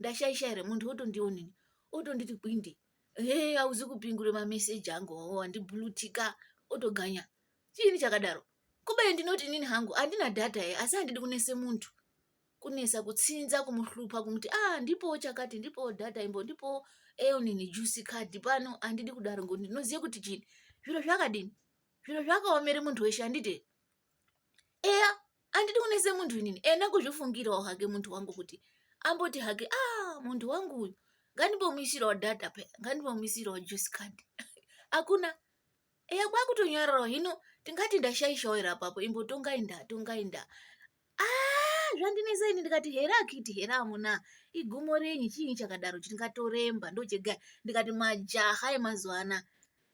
ndashaisha here munhu otondionini otonditi kwindi hee hauzi kupingure mameseji angu wandibulutika otoganya chiini chakadaro kubeni ndinoti inini hangu handina data ye asi handidi kunese muntu kunesa kutsinza kumuhlupa kumuti a ah, ndipowo chakati ndipowo data imbo ndipowo eonini juice card pano handidi kudaro ngokuti ndinoziva kuti chini zviro zvakadini zviro zvakaomere muntu weshe handite eya andidi kunese munhu inini ena kuzvifungirawo hake munhu wangu kuti amboti hake a ah, munhu wangu uyu ngandibomuisirawo data pe ngandibomuisirawo juice card hakuna eya kwakutonyararawo hino tingati ndashaishawo ira papo imbotongai nda tongai nda a ah, zvandinesa ini ndikati here akiti here amuna igumo renyi chiinyi chakadaro chiti ngatoremba ndochega ndikati majaha emazuva anaa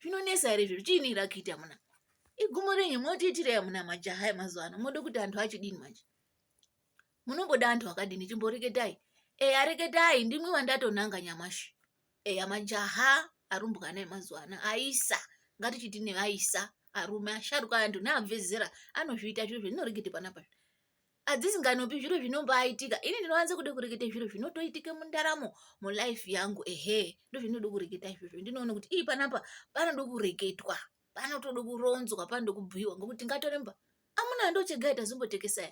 zvinonesa here izvozvo chiini ira kuita amuna igumo renyu motiitirei amuna majaha emazuva ano mode kuti antu achidini manje munongoda antu akadini chimboreketai eya reketai ndimwi wandatonanga nyamashi eya majaha arumbwana emazuva ano aisa ngatichiti neaisa arume asharuka antu neabve zera anozviita zvizvo zvinorekete panapa adzisinganopi zviro zvinombaitika ini ndinowanza kuda kureketa zviro zvinotoitika mundaramo mulife yangu ehe ndozvinoda kureketa izvozvo ndinoona kuti ii panapa panoda kureketwa panotoda kuronzwa panoda kubhuiwa ngokuti ngatoremba amuna ndochega itazimbotekesa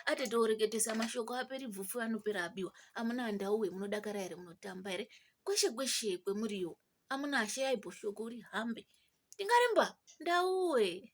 ati tooreketesa mashoko aperi bvufu anopera abiwa amuna ndauwe munodakara here munotamba here kweshe kweshe kwemuriyo amuna ashe yaiboshoko uri hambe tingaremba ndauwe